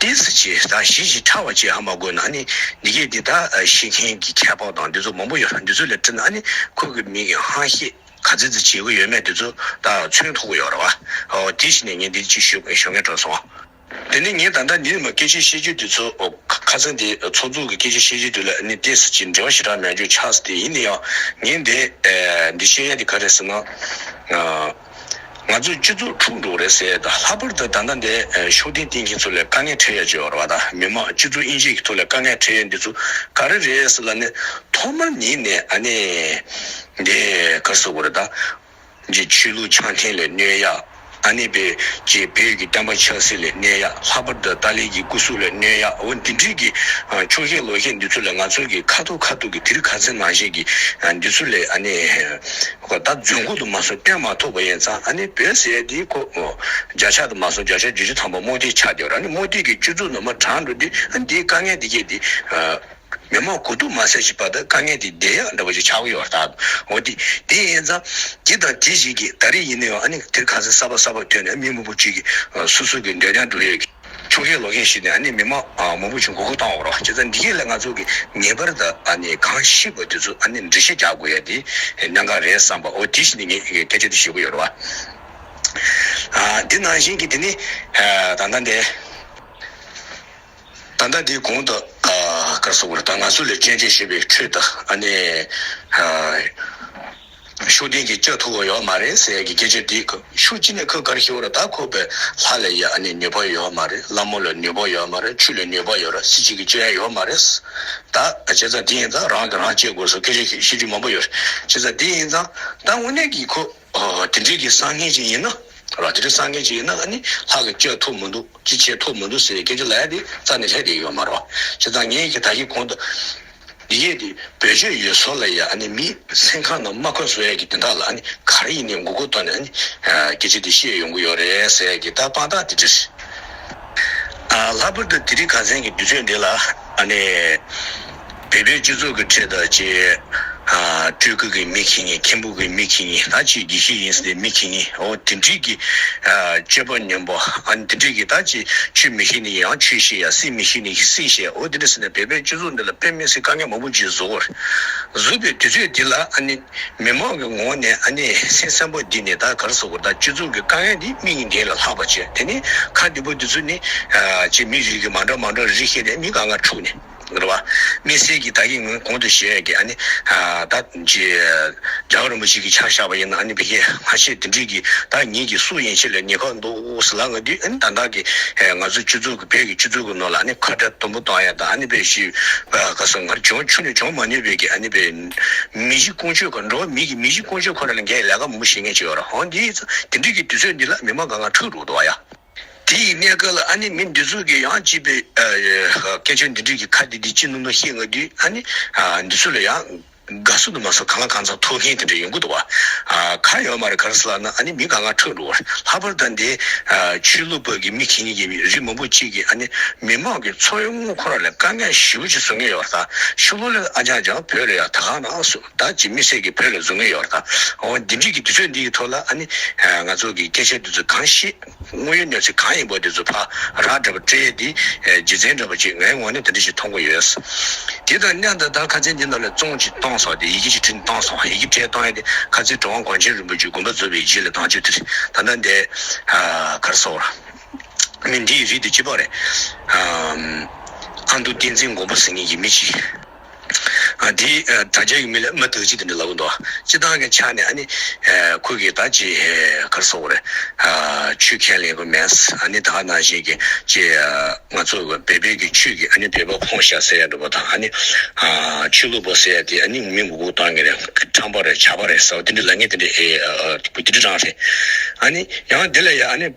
དེའི་གཟི་བྱིན་དང་བཞིན་བཞིན་ཕྲ་བ་བཅས་ཧ་མ་གོ་ན་ནི་འདི་སྐད་འདི་དག་ཤེས་མཁན་གྱི་ཁྱད་འཕགས་དང་འདི་ཚོ་མང་པོ་ཡོད་ལ་འདི་ཚོ་ལས་བཀྲི་ན་ནི་ཁོ་གི་མིག་གི་ཧང་ཤེས་ག་ཚི་ཚི་བྱེད་གི་ཡོད་མེད་འདི་ཚོ་དག་མཚོན་ཐུག་གི་ཡོད་རེད་བ། ཨོ་དེ་ཤི་ནས་ངས་འདི་ཅིག་ཞུ་ཞོ་ངས་དྲོན་སོང། དེ་ནི་ངས་ད་ལྟ་འདིར་མ་སྐད་ཆ་བཤད་རྒྱུ་འདི་ཚོ་ཁ་ཚ་འདི་ཚོགས་འཛུགས་ཀྱི་སྐད་ཆ་བཤད་རྒྱུ་འདི་ལ་ནི་དེ་གཟི་བྱིན་འབྲེལ་བ་ཞེ་དྲག་མེད་རྒྱུ་ཆགས་སྲིད་དེ་ཡིན་ནའང་ངས་འདི་འདི་བཤད་ཡ་འདི་ག་རེད་ཟེར་ན། ང་ཚོས་སྤྱི་ཚོགས་འཁྲུག་འགྲོ་གི་རེད་ཟེར་ཡས་ལྷག་པར་དུ་ད་ལྟ་འདས་ཕྱོགས་སྟེང་བསྟེན་མཁན་ཚོ་ལས་དཀའ་ངལ་འཕྲད་ཡས་བྱས་ཡོད་རེད་བ་མི་མང་སྤྱི་ཚོགས་དབྱེ་འབྱེད་ཀྱི་ཐོག་ལས་དཀའ་ངལ་འཕྲད་ཡས་འདི་ཚོ་ག་རེ་རེད་ཟེར་ལ་ནི་ཐོག་མར་ཉིད་ནས་ཨ་ནས་འདས་གར་ཟེར་དགོས་རེད་ད། རྗེ་ཆོས་ལུགས་འཆང་ཐེངས་ལས་གནས་ཡས་ཨ་ནས་བེ་རྗེ་བེུད་ཀྱི་བསྟན་པ་ཆགས་སྲིད་ལས་གནས་ཡས་ལྷག་པར་དུ་ཏཱ་ལའི་ཀྱི་སྐུ་གཟུགས་ལས་གནས་ཡས་འོ་འདི་འདྲིས་ཀྱི་ཕྱོགས་བཞེས་ལོག་བཞེས་འདི་ཚོ་ལས་ང་ཚོ་གི་ཁ་ཐོག་ཁ་ཐུག་གི་དིར་ཁ་ཚིར་ནང་བཞིན་གྱི་འདི་ཚོ་ལས་ཨ་ནས། ཁོ་ད་རྫུན་ཁུག་དུ་མ་སོང་བསྟན་མ་ཐུབ་པ་ཡིན་ཙང་ཨ་ནི་བོད་ཟེར་དེའི་ཁོ་བརྒྱ་ཆ་དུ་མ་སོང་བརྒྱ་ཆ་བརྒྱུད་ཅུ་ཐམ་པ་རྨོ་རྡིས་ཆགས་བསྡད་པ་རང་ནི་རྨོ་རྡིས་ཀྱི་བཅུ་ཚུགས་ནང་མ་དྲངས་འགྲོ་དུས་ཨ་ནི་དེའི་དཀའ་ངལ་འདི་སྐྱེས་ཏེ། མི་མང་གོ་ཐུག་མ་ཟེར་ཞིག་པ་ད་དཀའ་ངལ་དེ་བདེ་ཡག་འདྲ་པོ་ཞིག་ཆགས་གི་ཡོད་རྟགས་འོ་དེ་དེ་ཡིན་ཙང་དེ་དང་དེ་ཞིག་གིས་ད་རེས་ཡིན་ནའང་ཨ་ནི་དེར་ཁ་ཟས་གསར་པ་གསར་པ་ཐོན་ནས་མི་མང་པོ་གཅིག་གིས་སུ་སུ་གིས་འདོད་ཀྱང་འགྲོ་ཡོད་ཀྱི། ཆུ་ཁའི་ལོ་རྒན་ཞིག་ནས་ནི་མི་མ་མོ་བུ་ཆུང་གོ་གུ་བཏང་བ་རོ། ཅེས་ཙང་འདི་གྱིས་ལས་ང་ཚོ་གིས་ངེས་པར་དུ་གང་ཤེས་པ་དེ་ཚོ་ནི་འགྲེལ་བཤད་རྒྱག་དགོས་ཡ་དེ་གནང་ག་རེད་བསམ་པའོ་དེ་བཞིན་ནི་ངས་སྐད་ཆ་དེ་ཞུ་གི་ཡོད་རེད་བ། དེ་ནང་བཞིན་གྱི་དེ་ནི་ད་ལྟ་འདི། ད་ལྟ་འདི་གོང་དུ་ཀར་སོག་པོ་རི་དང་ང་ཚོ་ལས་ཅན་ཅན་ཞེས་པའི་ཁྲོད་དུ་ནི། ཤུགས་ལྡན་གྱིས་ལྕགས་ཐུག་ཡོད་མ་རེད་ཟེར་ཡ་གི་སྐད་ཆ་འདི་ཤུགས་ཅི་ནས་ཁོས་གར་ཤི་བ་ར་ད་ཁོ་པའི་ལྷ་ལ་ཡ་ནི་ནུས་པ་ཡོད་མ་རེད་བླ་མོ་ལ་ནུས་པ་ཡོད་མ་རེད་ཆུ་ལ་ནུས་པ་ཡོད་ར་སྲིད་སྤྱི་གི་སྤྱོད་ཡ་ཡོད་མ་རེད་ད་བྱས་ཙང་དེ་ཡིན་ཙང་རང་གི་རང་གཅེས་དགོས་སོ་སྐད་ཆ་ཤེས་རྒྱུ་མང་པོ་ཡོད་བྱས་ཙང་དེ་ཡིན་ཙང་ད་དངོས་གནས་གྱི་ཁོ་དེ་འདྲས་གྱི་སང་ངན་ཅིག་ཡིན་ན་ར་དེ་འདྲས་སང་ངན་ཅིག་ཡིན་ན་ཡ་ནི་ལྷ་གི་ལྕགས་ཐུག་མི་འདུག་ཅི་བྱས་ཐུག་མི་འདུག་ཟེར་ཡའི་སྐད་ཆ་ལ་ཡ་དེ་རྩ་ནས་ལྷད་དེ་ཡོད་མ་རོ་བྱས་ཙང་ངས་ཀྱི་ད་ཀྱི་གོང་དུ། ཡས་དེ་བོད་ཆོས་ཡོད་བཟོ་ལ་ཡ་ནི་མི་སེམས་ཁ་ནང་མ་འཁོན་བཟོ་ཡ་གི་དེ་དག་ལ་ནི་ག་རེ་ཡིན་ནའི་མགོ་སྐོར་ཐོག་ནས་ནི་སྐད་ཆ་དེ་བཤད་ཡོང་གི་ཡོད་རེད་ཟེར་ཡ་གི་ད་དཔང་རྟགས་དེ་འདྲས་རེད། ལྷག་པར་དུ་དེ་རིགས་ག་ཚན་གི་དུས་ཚོད་འདི་ལ་ནི་བོད་པའི་སྤྱི་ཚོགས་ཀྱི་ཁྲོད་དུ་ཆེས་སྤྲུལ་སྐུ་གི་མིག་ཤེས་ངས་མཁན་པོ། ཐུགས་ཀྱི་མིག་གིས་ནི་ད་ཅི་བགྱི་ཤེས་ཡིན་ཟེར་ཏེ་མིག་གིས་ནི་འོ་དེ་འདྲིས་ཀྱི། སྤྱོད་པ་ཉོན་པོ་ཨ་ནི་དེ་འདྲིས་ཀྱི་ད་ཅི་ཆུད་མི་ཤེས་ནི་ཡང་ཆུད་ཤེས་ཡང་སྲིད་མི་ཤེས་ནི་ཡང་སྲིད་ཤེས་འོ་དེ་འདྲ་ཟེར་ན་བལ་པོའི་སྤྱོད་ཚུལ་འདི་ལ་དཔེ་མི་སྲིད་བཀའ་ཉན་མང་པོ་ཅིག་གཟུགས། གཟུགས་པའི་དུས་ཚོད་འདི་ལ་ཨ་ནི་མི་མང་གི་ངོ་བོ་ནས་ཨ་ནི་སེམས་སེམས་པོ་འདི་ནི་ད་གར་སོགས་པར་ད་སྤྱོད་ཚུལ་གྱི་དཀའ་ངལ་འདི་མིག་གཉིས་འདི་ལ་ལྷག་པར་བྱེད་དེ་ནི་ཁ་བདེ་པོ་འདི་ཚོ་ནི། ཅེས་མིག་རིག་གིས་མང་དྲགས་མང་དྲགས་རིག་ཤེས་ནས་མིག་ག་ང་འཁྲུགས་ནས། འགྲོ་བ་མི་གསེར་གྱི་བདག་གི་ངོས་གོང་དུ་བཞེས་ཀྱི་ཨ་ནི། བདག། རྒྱལ་བ་རིན་པོ་ཆེ་གི་ཕྱག་བཞག་པ་ཡིན་ན་ཨ་ནི་བི་ཁྱད་སྔ་ཕྱི་འདི་འདྲིས་ཀྱིས་བདག་ཉིད་ཀྱི་སུ་ཡིན་ཕྱི་ལ་ཉེ་ཁོག་འདུག་བཟི་ལ་ང་དུས་ཨ་ནི་ད་བདག་གི། ང་ཚོ་བཅུ་ཚུགས་ཀྱི་བོད་ཀྱི་བཅུ་ཚུགས་ཀྱི་ནོར་ལ་ཨ་ནི་ཁ་བྲལ་དུམ་བུ་གཏོང་ཡ་ད་ཨ་ནི་བེ་ཤི། ག་སོང་ང་རི་ཆུ་ཆུ་ནི་འབྱོང་མ་ནུས་བེ་ཀྱི་ཨ་ནི་བེ། མི་གཞི་ཀུན་སྤྱོད་ཁོ་འགྲོ་བ་མི་གི་མི་གཞི་ཀུན་སྤྱོད་ཁོ་ན་ལ་འགས་ལས་ཀ་མང་པོ་བྱེད་ངེས་ཅི་ཡོད་ར་ཧོ་འདིས་ཚོ་དེ་འདྲིས་ཀྱིས་དུས་ཚོད་འདི་ལ་མི་མང་ག་ང་ཁྲུག་འགྲོ་གདོ་བ་ཡ། དེ་ཡི་གནས་སྐབས་ལ་ཨ་ནི་མི་འདི་ཚོ་གི་ཡང་སྐྱིད་པའི། སྐད་ཆ་འདི་དྲུག་གི་ཁ་དེ་དེ་ཅི་ནོར་ནོར་ཤེས་ང་དུས་ཨ་ནི། འདི་ཚོ་ལ་ཡང། དགའ་བསུ་དུ་མ་སོགས་གང་ལ་གང་འཚམས་ཐོབ་མཁན་དེ་འདྲ་ཡོང་གི་འདུག་བ། ཁ་ཡོད་མ་རེད་ག་རེ་ཟེར་ལབ་ན་ཨ་ནི་མི་ག་ང་ཁྲོད་འགྲོ་བར་ལྷག་པར་དང་དེ། ཆོས་ལུགས་བར་གྱི་མི་གེ་གཉིས་ཀྱི་རིགས་མང་པོ་གཅིག་གིས་ཨ་ནི་མི་མང་གི་འཚོ་བའི་དངུལ་ཁོ་ར་ལ་དཀའ་ངལ་ཞི་བོ་ཅིག་བཟོ་མཁན་ཡོད་པ་ད་ཤུ་ལོ་ལེ་ཨ་ཅང་ཅང་བོད་ལ་ཡང་ད་གང་ན་སུ། བདག་གཅིག་མི་ཟད་ཀྱི་བོད་ལ་བཟོ་ངེས་ཡོད་པ་དང། འོ་འདི་འདྲིས་ཀྱི་དུས་ཚོད་འདིའི་ཐོག་ལ་ཨ་ནི། ང་ཚོ་གི་སྐད་ཆ་འདི་ཚོ་གང་ཤེས། དངོས་ཡོད་གནས་ཚུལ་གང་ཡིན་པོ་འདི་ཚོ་ཕ་རག་འདྲ་པོ་སྤྲེལ་འདི། རྗེ་བཙན་འདྲ་པོ་ཅིག་ངའི་ངོ་ནས་འདི་འདྲ་ཞིག་མཐོང་གི་ཡོད། དེ་དང་མཉམ་དུ་ད་ཁ་ཆེ་འདི་ནོར་ལ་བཙོང་ཅིག་གཏོང་སོང་དེ་ཡི་གེ་ཅིག་བྲིས་ནས་གཏོང་སོང་ཡི་གེ་བྲིས་གཏོང་ཡས་དེ་ཁ་ཚིག་འགྲོ་དབང་གོང་ཆེན་རིན་པོ་ཆེ་དགོན་པ་བཟོ་བའི་རྗེས་ལ་དྭངས་བཅུད་དེར་ད་ལྟ་འདས། གར་སོང། མི་འདི་ཡི་རིགས་འདི་སྐྱིད་པོ་རེད། ཨ་མདོ་བསྟན་འཛིན་མགོན་པོ་ཟེར་ངེས་ཀྱི་མི་ཅིག། དེས་དྲ་རྒྱ་ཡུལ་མི་ལ་མི་དག་ཅིག་དེ་འདྲ་ལབ་འདུག་སྤྱི་བཏང་གི་ཆ་ནས་ནི། ཁོས་ཀྱིས་ད་ཅི་གར་སོང་བར། ཆུ་ཁས་ལེན་གི་མེད། ད་ནང་བཞིན་གྱི་ཅི། ང་ཚོ་བལ་པོའི་གི་ཆུ་གི་བལ་པོ་ཁོང་བཤའ་ཟེར་ཡ་འདུག་པ་དང། ཆུ་ལུག་པོ་ཟེར་ཡ་དེ་ནི་མི་མགོ་གུག་བཏང་གི་རེད། ཁྲམ་པ་རེད་བྱ་པ་རེད་ཟེར་བ་དེ་འདྲ་ལ་ངས་དེ་འདྲ་ཨེ། དེ་འདྲ་རང་རེད། ཡང་དེ་ལ་ཡང།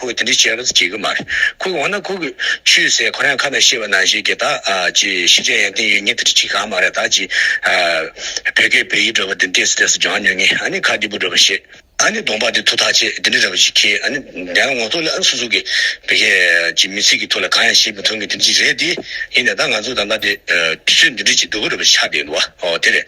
ཁོས་དེ་འདྲ་བྱེད་རོགས་བྱེད་ཀྱི་མ་རེད། ཁོ་གིས་འོ་ན་ཁོ་གིས་ཆུད་ཟེར་ཁོ་རང་ཁ་ན་ཤེས་པ་ནང་བཞིན་གྱི་ད་ཅི་ཤེས་བྱ་ཡང་ཏིང་ཡོད་ངས་དེ་འདྲ་བྱེད་གང་མ་རེད་ད་ཅི། བོད་སྐད་བོད་ཡིག་འདྲ་བ་འདི་འདྲས་སུ་འདྲས་སུ་སྦྱང་ཉོན་ངེས་ཨ་ནི་ཁ་སྐྱིད་པོ་འདྲ་བ་ཤེས་ཨ་ནི་གདོང་པགས་འདི་ཐུག་ཐག་ཆད་འདི་འདྲ་འདྲ་བ་ཞིག་ཁེལ་ཨ་ནི་དེ་ཡང་ངོ་ཐོག་ལ་ཨ་སུ་སུ་གི་བོད་སྐད་ཀྱི་མི་ཚིག་གི་ཐོག་ལ་གང་ཡང་བཤད་མི་ཐུབ་ངེས་དེ་འདྲ་ཞིག་རེད་དེ་ཡིན་ན་ད་ང་ཚོ་ད་ལྟ་དེ་དུས་ཚོད་འདི་འདྲ་ཞིག་འདུག་གི་འདྲ་བ་ཞིག་ཆགས་བསྡད་འདུག་བ་ཨོ་དེ་རེད།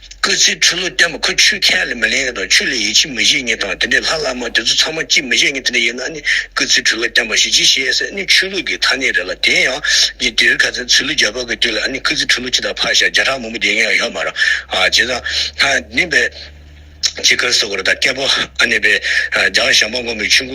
སྐུ་ཚེའི་འཁྲུལ་བློ་བསྟན་པ་ཁོ་ཆུ་ཁས་ལེན་མི་ལེན་ཡིན་དང་ཆུ་ལས་ཡིད་ཆེས་མི་བྱེད་ཡིན་དང་དེ་འདྲའི་ལྷ་བླ་མ་དེ་ཚོ་ཚང་མ་ཅི་མི་བྱེད་ཡིན་དེ་འདྲ་ཡིན་ན་ནི་སྐུ་ཚེའི་འཁྲུལ་བློ་བསྟན་པ་ཞིག་ཅི་བྱེད་ཟེར་ནི་ཆོས་ལུགས་ཀྱི་ཐ་སྙད་རེད་ལ་དེ་ཡང་ཇི་འདྲིར་ག་ཚད་ཚུལ་ལུགས་རྒྱ་བོད་ཀྱི་དུས་ལ་ཨ་ནི་སྐུ་ཚེའི་འཁྲུལ་བློ་ཅི་ལྟར་ཕར་བཞག་བརྒྱ་ཕྲག་མང་པོ་འདི་ཡིན་ཡང་ཡོད་མ་རང་བྱེད་ཙང་ཧ་ནི་པའི། ཇི་དཀར་སོག་གི་རི་དྭགས་སྐྱེ་བོ་ཨ་ནི་པའི། རྒྱ་གར་ཞང་པ་སྔོན་མོའི་ཆུ།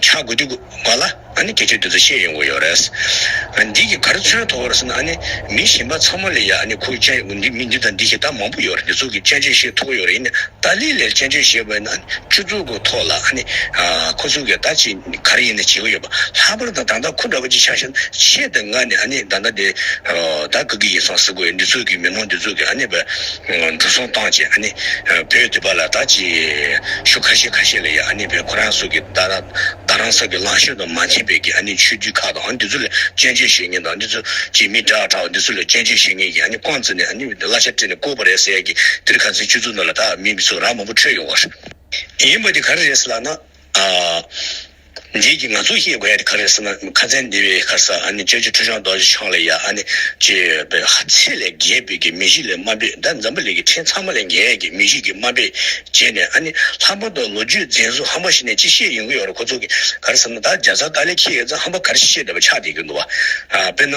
ཆ་དགོས་དུས་དགོས་ལ་ཨ་ནི་ཁྱེད་ཆོས་དེ་ཚོ་ཤེས་ཡོང་གི་ཡོད་རེད། འདི་གི་གར་ཚོན་ཐོག་རེད་ཟེར་ན་ཨ་ནི་མི་གཞན་པ་ཚང་མ་ལས་ཡག་ཨ་ནི་ཁོའི་དཔྱད་འདི་མི་འདི་དང་འདི་ཞེས་ད་མང་པོ་ཡོད་རེད་འདི་ཚོ་གི་དཔྱད་བརྗོད་ཤེས་ཐུབ་ཀྱི་ཡོད་རེད་ཡིན་ནའི་ཏཱ་ལའི་ལའི་དཔྱད་བརྗོད་ཞེས་པ་ཡིན་ན་ཨ་ནི་ཆུ་བཙོ་གི་ཐོག་ལ་ཨ་ནི་ཁོ་ཚོ་གི་ད་ཅི་གར་ཡིན་ནའི་བྱེད་ཀྱི་ཡོད་པ་ལྷག་པར་དུ་ད་ལྟ་ཁོ་འདྲ་པོ་གཅིག་ཆགས་ཤིང་ཆེད་དུ་ང་ནི་ཨ་ནི་ད་ལྟ་འདི་ད་གི་གི་ཡིན་སང་ཟེར་དགོས་ཡོད་འདི་ཚོ་གི་མི་མང་འདི་ཚོ་གི་ཨ་ནི་བས། འགྲོ་སོང་བཏང་རྗེས་ཨ་ནེ་བོས་འདི་པ་ལ་ད་ཅི། ཤུ་ཁ་ཤས་ཁ་ཤས་ལ་ཡ་ཨ་ནེ་བོས་ཁོ་རང་སོགས་ཀྱིས་ད་ད་རང་ས་ཀྱི་ལང་ཤོད་དུ་མ་འཐེན་པའི་གི་ཨ་ནེ་ཆོས་བརྒྱུད་ཁག་དང་འདི་ཚོ་ལ་སྐྱོན་བརྗོད་བྱེད་ངེས་དང་འདི་ཚོ་ཀྱིས་མི་དྲག་དྲག་འདི་ཚོ་ལ་སྐྱོན་བརྗོད་བྱེད་ངེས་ཀྱི་ཨ་ནེ་ཀོང་ཙེ་ནས་ཨ་ནེ་བོས་འདི་གླ་ཆ་སྤྲད་ནས་བསྐུར་བ་རེད་ཟེར་གི་འདིར་ག་ཚོད་སྤྱོད་ཚུལ་འདི་ལ་ད་མི་ཚོ་ར་མང་པོ་ཁྲོས་ཡོང་བ་རེད། ཡིན་པ་འདི་ག་རེ་རེད་ཟེར་ལགས་ན། འདིའི་རྒྱུ་ང་ཚོས་ཤེས་དགོས་ཡ་དེ་ག་རེད་ཟེར་ན་ཁ་ཚན་འདི་བའི་ཁར་ས་ཨ་ནི་ཅོ་ཅོ་ཁྲོ་ཆང་རྡོ་རྗེ་འཆང་ལས་ཡ་ཨ་ནི་ཅི་ཡོད་པའི་ཧ་ཚེ་ལས་རྒྱས་པོད་ཀྱི་མི་གཞི་ལས་དམའ་པོད་ཟླ་འཛམ་བུ་ལི་ཀྱི་ཕྲེང་ཚང་མ་ལས་རྒྱས་ཀྱི་མི་གཞི་ཀྱི་དམའ་པོད་རྗེས་ནས་ཨ་ནི་ལྷག་པར་དུ་ལོ་རྒྱུས་རྫན་ཟུག་ཧམ་པ་ཞིག་ནས་ཅི་བཤད་ཡོང་གི་ཡོད་རེད་ཁོ་ཚོ་གིས་ག་རེ་ཟེར་ན་ད་རྒྱ་བཟའ་ཏཱ་ལས་ཁྱི་ཡས་ཙང་ཧམ་པ་ག་རེ་བཤད་བསྡད་པ་ཆགས་བསྡད་ཀྱི་འདུག་བ་དཔེར་ན།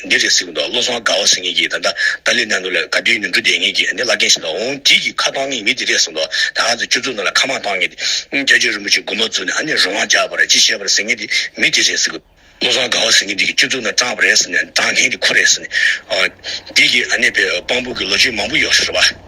འདི་རེད་ཟེར་གྱི་འདུག་བློ་བཟང་དགའ་བ་ཟེར་ངེས་ཀྱིས་ད་ལྟ་ཏཱ་ལའི་གནས་འདུག་ལས་ག་དུས་ཡིན་དུ་འགྲོ་བསྡད་ངེས་ཀྱིས་འདི་བླ་རྒན་ཞིག་ལ་འོང་དུས་ཀྱི་ཁ་བཏང་ངེས་མི་དེ་རེད་ཟེར་གྱི་འདུག་ད་ག་ཚོད་ཁྱོད་ཚོ་རྣམས་ལ་ཁ་མང་བཏང་ངེས་ཏེ། རྒྱ་ཆོས་རིན་པོ་ཆེ་མགུར་མ་བཙུགས་ནས་ཨ་ནེ་རོ་མང་རྒྱག་པ་རེད་ཅི་བྱས་པ་རེད་ཟེར་ངེས་ཏེ་མི་དེ་རེད་ཟེར་གྱི། བློ་བཟང་དགའ་བ་ཟེར་ངེས་ཏེ་ཁྱོད་ཚོ་རྣམས་སྤྲང་བ་རེད་ཟེར་ནས་སྤྲང་མཁན་དེ་ཁོ་རེད་ཟེར་ནས། འདི་ཀྱིས་ཨ་ནེ་པའི་དཔང་པོ་གི་ལོ་རྒྱུས་མང་པོ་ཡོག་ཤོག་རེད་བ།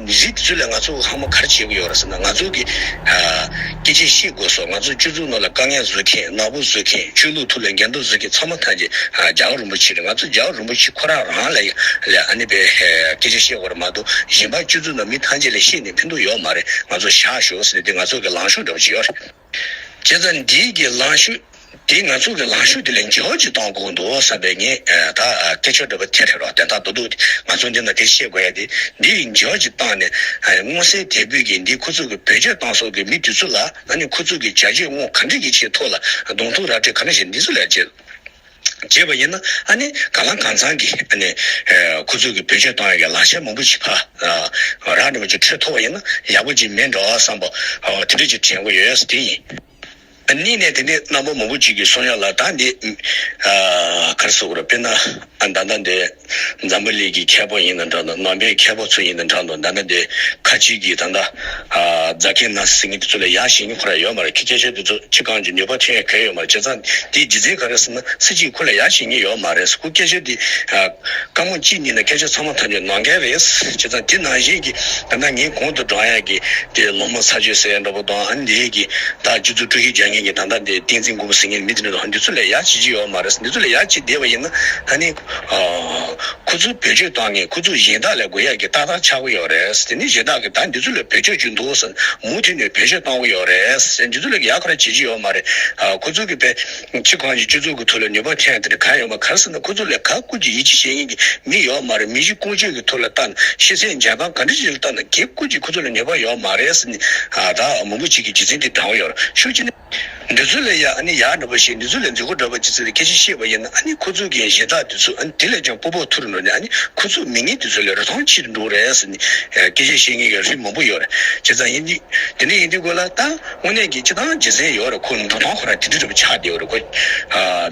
གཞིས་དེ་ཚོ་ལས་ང་ཚོ་ལྷག་མ་གར་བྱེད་དགོས་ཡོད་རེད་ཟེར་ན་ང་ཚོ་གི་སྐད་ཆས་ཤེས་དགོས་སོ་ང་ཚོ་སྤྱོད་ཚུལ་ནོར་ལ་དཀའ་ངལ་བཟོས་མཁན་ནག་པོ་བཟོས་མཁན་ཆོས་ལུགས་ཐུགས་ལ་འགལ་འདུ་བཟོས་མཁན་ཚང་མ་ཐང་ཆེ་ཇག་རུན་པོ་ཆེ་རེད་ང་ཚོ་ཇག་རུན་པོ་ཆེ་ཁོ་རང་རང་ལ་ལས་ཨ་ནེ་པའི་སྐད་ཆ་ཤེས་དགོས་རེད་མ་གཏོགས་གཞན་པ་སྤྱོད་ཚུལ་ནོར་མི་ཐང་ཆེ་ལས་ཤེས་ནས་ཕན་ཐོག་ཡོད་མ་རེད་ང་ཚོ་བཞག་ཞོག་ཟེར་ནས་དེ་ང་ཚོ་གི་ལང་ཤོག་འདྲ་པོ་བྱེད་ཡོད་རེད། བྱས་ཙང་འདིའི་གི་ལངས་ཤུགས་དེ་ང་ཚོ་གི་ལངས་ཤུགས་དེ་ལས་མགྱོགས་ཀྱིས་གཏོང་དགོས་འདུག་བསམ་པའི་ངས་ད་སྐད་ཆ་འདྲི་བ་དེ་རེད་རོགས་དན་ད་དོ་འདུག་ང་ཚོ་འདི་ན་དེ་ཤེས་དགོས་ཡ་དེ་འདི་ཡི་མགྱོགས་ཀྱིས་བཏང་ནས་སྔོ་བསལ་དལ་བུས་གི་འདི་ཁོ་ཚོ་གི་བོད་རྗེས་གཏང་སོགས་གི་མི་དེ་ཚོ་ལ་ན་ནི་ཁོ་ཚོ་གི་བྱ་སྤྱོད་དངོས་ག་འདྲི་གི་ཆེད་ཐོག་ལ་གདོང་ཐུག་ར་སྤྲད་ག་ན་བྱེད་འདི་ཚོ་ལས་བྱེད། བྱེད་པ་ཡིན་ན་ཨ་ནི་ག་ལ་གང་ཚང་གི་ཨ་ནི་ཁུ་ཚུར་གི་བེད་སྤྱོད་གཏོང་ཡ་གི་ལག་ཆ་མང་པོ་ཅིག་ཕ་རག་འདྲ་བོ་ཅིག་འཕྲོད་ཐུབ་པ་ཡིན་ན་ཡག་པོ་ཅིག་མིན་འགྲོ་བསམ་པ་དེ་འདྲ་ཅིག་དྲན་གོ་ཡོད་ཡ་ས་དེ་ཡིན། གཉིས་ནས་དེ་འདྲའི་རྣམ་པ་མང་པོ་ཅིག་གིས་གསུང་ཡ་ལ་ད་འདི་གར་སོ་གུ་ར་དཔེར་ན་ཨ་ད་ད་འདི། འཛམ་བུ་གླིག་གི་མཁས་པོ་ཡིན་ན་འདྲ་འདུག་ནོ་བྷེལ་མཁས་པོ་ཚོ་ཡིན་ན་འདྲ་འདུག་ད་ནི་དེ་ཁ་ཅིག་གིས་ད་ལྟ་རྫ་ཁེ་ན་སི་ངི་དེ་ཚོ་ལ་ཡག་ཞིང་ཁོ་ར་ཡོད་མ་རེད་ཁི་སྐད་ཆ་དེ་ཚོ་ཁྱི་གངས་ཀྱི་ནུས་པ་ཐོན་ཡ་གལ་ཡོད་མ་རེད་བྱས་ཙང་དེའི་རྗེས་འཛིན་ག་རེ་ཟེར་ན་སི་གཅིག་ཁོ་ལ་ཡག་ཞིང་ངི་ཡོད་མ་རེད་ཁོ་སྐད་ཆ་དེ་དཀའ་མོ་གཅིག་ཉིད་ན་སྐད་ཆ་ཚང་མ་ཐམས་ཅད་ནང་འགལ་རེད་བྱས་ཙང་དེ་ནང་བཞིན་གི་ད་ནང་ངི་གོང་དུ་བགྲང་ཡག་གི་དེ་ལོ་མོ་ཚ་ཆོད་སེ་འདྲ་པོ་དང་ཨ་འདེ་གི་ད་སྤྱི་ཚུགས་ཀྲུའུ་ཞི་རྒྱ་ངན་གི་ད་ད་འདེ་ཏིང་འཛིན་དགོས་པ་སི་ངི་མི་དེ་འདྲ་འདུག་འདི་ཚོ་ལ་ཡག་བྱེད་ཀྱི་ཡོད་མ་རེད་འདི་ཚོ་ལ་ཡག་བྱེད་བསྡད་པ་ཡིན་ན་ད་ནི། ཁོ་ཚོའི་བེད་སྤྱོད་བཏང་ནས་ཁོ་ཚོས་གཞན་དག་ལས་དགོས་ཡག་གི་ཏག་ཏག་ཆགས་ཀྱི་ཡོད་རེད་དེ་ནས་གཞན་དག་གིས་ད་འདི་ཚོ་ལ་བེད་སྤྱོད་བྱུང་འདུག་ཟེར་ནས་མུ་མཐུད་ནས་བེད་སྤྱོད་གཏོང་གི་ཡོད་རེད་འདི་ཚོ་ལས་ཡག་ག་རེ་བྱེད་ཀྱི་ཡོད་མ་རེད། ཁོ་ཚོ་གིས་བལ་ཕྱི་གང་ཅིའི་སྤྱི་ཚོགས་ཀྱི་ཐོག་ལ་ནུས་པ་ཐོན་ཡག་དེ་འདྲ་གང་ཡོད་མ་ག་རེ་ཟེར་ན་ཁོ་ཚོ་ལས་ག་དཀོན་གྱི་ཡིད་ཆེས་བྱེད་མཁན་གྱི་མི་ཡོད་མ་རེད་མི་གཞི་ཀུན་སྤྱོད་ཀྱི་ཐོག་ལ་ལྟ་ན་ཤེས་ཚད་འཇལ་སྟངས་ག་འདྲ་ཞིག་ལ་ལྟ་ན་གལ་དཀོན་གྱི་ཁོ་ཚོ་ལ་ནུས་པ་ཡོད་མ་རེད་ཟེར་ནས་ད་མུ་མུ་བྱེད་ཀྱི་རྗེས་འཛིན་དེ་འདྲ་བོ་ཡོད་རེད་ཤུགས་ཆེ་ན། འདི་ཚོ་ལས་ཡག་ཨ་ནི་ཡག་འདྲ་པོ་ཞིག་འདི་ཚོ་ལས་འཛི་གོ་འདྲ་པོ་ཅི་ཚི་ལས་ཁྱེད་ཀྱིས་ཤེས་པ་ཡིན་ན་ཨ་ནི་ཁོ་ཚུ་གིས་གཞས་དག་འདི་ཚོ་ཨ་ནི་དེ་ལས་ཀྱང་སྤོ་པོ་ཐུ་རུ་འགྲོ་ནས་ཨ་ནི་ཁོ་ཚུ་མི་ངན་འདི་ཚོ་ལས་རོ་ཐང་ཕྱི་དུ་འགྲོ་རེད་ཟེར་ནས་སྐད་ཆ་བཤད་ངེས་ཀྱི་རིགས་མང་པོ་ཡོད་རེད་བྱས་ཙང་ཡིན་འདི་འདི་འདི་ཡིན་འདི་དགོས་ལ་ད་དངོས་གནས་ཀྱི་སྤྱི་ཐང་རྗེ་བཙན་ཡོད་རེད་ཁོ་འགྲོ་སྟངས་ཁོ་རང་དེ་འདྲི་འདྲ་པོ་ཆགས་བསྡད་ཡོད་རེད་ཁོ་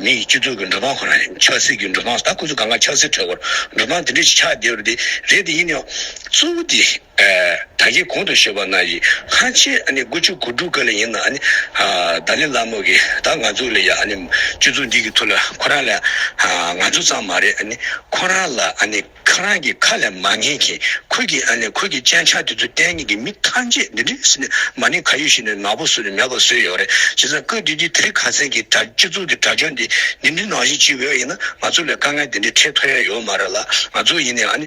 མི་ཡི་སྤྱི་ཚོགས་ཀྱི་འགྲོ་སྟངས་ཁོ་རང་ཆགས་སྲིད་ཀྱི་འགྲོ་སྟངས་ད་ཁོ་ཚུ་གང་གང་ཆགས་སྲིད་གྲོད་ཁོ་རང་འགྲོ་སྟངས་དེ་འདྲི་ཞིག་ཆགས་བསྡད་ཡོད་རེད་དེ་ཡིན་ཡང་གཙོ་བོ་དེ། ད་གིན་གོང་དུ་བཤད་པ་ན་ཡི་ཧ་ཆེ་ཨ་ནི་དགུ་བཅུ་གོ་དྲུག་ག་ལ་ཡིན་ན་ཨ་ནི་ད་ལི་ལ་མོ་གི་ད་ང་ཚུ་ལ་ཡ་ཨ་ནི་ཅུ་ཚུ་འདི་གི་ཐུ་ལ་ཁོ་རང་ལ་ང་ཚུ་ཙང་མ་རེད་ཨ་ནི་ཁོ་རང་ལ་ཨ་ནི་ཁ་རང་གི་ཁ་ལ་མ་ངེས་གིན་ཁོ་གི་ཨ་ནི་ཁོ་གི་སྤྱན་ཆ་དེ་ཚུ་བསྟན་གིན་གི་མི་ཐང་ཆད་འདི་འདྲི་སི་ནི་མ་ནི་ག་ཡུལ་ཞིག་ནས་ནག་པོ་སུ་ལ་མེད་པ་སུ་ཡོད་རེད་བྱས་ཙང་ཀོས་དུས་དུས་དེ་ག་ཚད་གི་དྲ་སྤྱི་ཚུགས་གི་དྲ་སྦྱོར་འདི་འདི་འདྲི་ནང་བཞིན་ཅི་འོས་ཡིན་ན་ང་ཚུ་ལ་དཀའ་ངལ་འདི་འདྲི་འཕྲད་ཐུ་ཡ་ཡོད་མ་རེད་ལ་ང་ཚུ་ཡིན་ནའི་ཨ་ནི།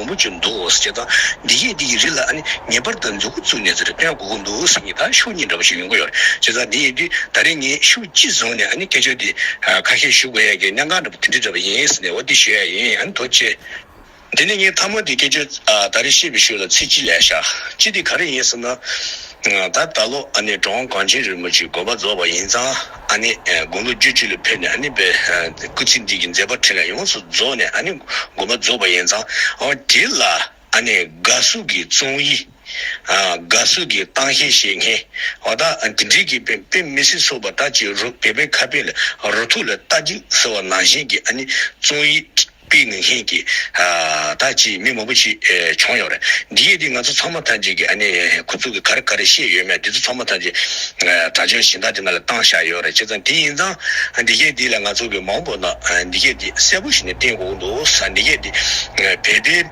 བུ་མོ་བྱོན་འདུག་ཅེས་དང། འདི་སྐད་འདི་ཡི་རིགས་ལ་ནི་ངེས་པར་དུ་མཛུ་གུ་བཙུགས་ནས་ཟེར་སྟོན་གོ་གོ་འདུག་ཟེར་གཉིས་དང་ཤུགས་གཉིས་འདྲ་པོ་ཞིག་ཡོང་གི་ཡོད་ཅེས་དང་དེ་ཡིན་དུས་ད་རེས་ངས་ཤུགས་གཅིག་བཟུང་ནས་ནི་སྐད་ཆ་འདི་ཁ་ཤས་ཞུ་དགོས་ཡ་གི་གནས་འགང་འདྲ་པོ་དེ་འདྲི་འདྲ་པོ་ཡིན་ཟེར་ནས་འོ་དེ་ཞུ་ཡ་ཡིན་འདུག་ཅེས། དེ་ནས་ངས་ཐ་མ་དེ་སྐད་ཆ་ད་རེས་བཤད་པའི་ཤུགས་ལ་ཚིག་གཅིག་ལས་བཞག་གཅིག་དེ་ག་རེ་ཡིན་ཟེར་ན། ད་ད་ལོ་ནི་འབྲོང་གངས་ཅན་རིལ་མོ་གཅིག་དགོན་པ་རྫོགས་པ་ཡིན་ཙང། ཨཱ་ནི། དགུང་ལོ་བརྒྱུད་བཅུ་ལ་ཕེབས་ནས་ཨཱ་ནི། སྐུ་ཚེ་འདི་ཀྱི་མཛད་པ་ཕྲིན་ལས་ཡོངས་སུ་རྫོགས་ནས་ཨཱ་ནི། མགོན་པོ་རྫོགས་པ་ཡན་ཚང་དེ་ལ་ཨཱ་ནི། དགའ་བསུ་གྱི་བཙོང་ཡིག། དགའ་བསུ་གྱི་གཏང་ཤའི་བཤེས་གཉེན། བ་དག་དེ་འབྲེལ་གྱི་དཔེ་དཔེ་མི་སྲིད་སོགས་པ་དག་ཅི་རུ་སྦས་པའི་ཁ་དཔེ་ལ་རུ་ཐུག་ལ་ལྟ་ཅིག་ཟེར་བ་ནང་བཞིན་གྱི་ཨཱ་ནི། བཙོང་ཡིག། པའི་ངན་ཤན་གྱི། ད་ཅིས་མི་མང་པོ་ཞིག་བྱུང་ཡོང་རེད། འདི་ཡིག་འདི་ང་ཚོ་ཚང་མ་ཐམས་ཅད་ཀྱི་ཨ་ནེ་ཁོ་ཚོ་གི་ག་རེ་ག་རེ་ཤེས་ཡོད་མེད་འདི་ཚོ་ཚང་མ་ཐམས་ཅད། དྲ་ཆོས་གཞན་དག་དེ་ན་ལ་བཏང་བཞག་ཡོད་རེད་ཅེས་ཙང་དེ་ཡིན་ཙང། འདི་སྐད་འདི་ལ་ང་ཚོ་གི་མང་པོ་ན་འདི་སྐད་འདི་གསལ་པོ་ཞིག་ནས་བསྟན་དགོས་ཀྱི་འདུག་ས་འདི་སྐད་འདི། བལ་པའི།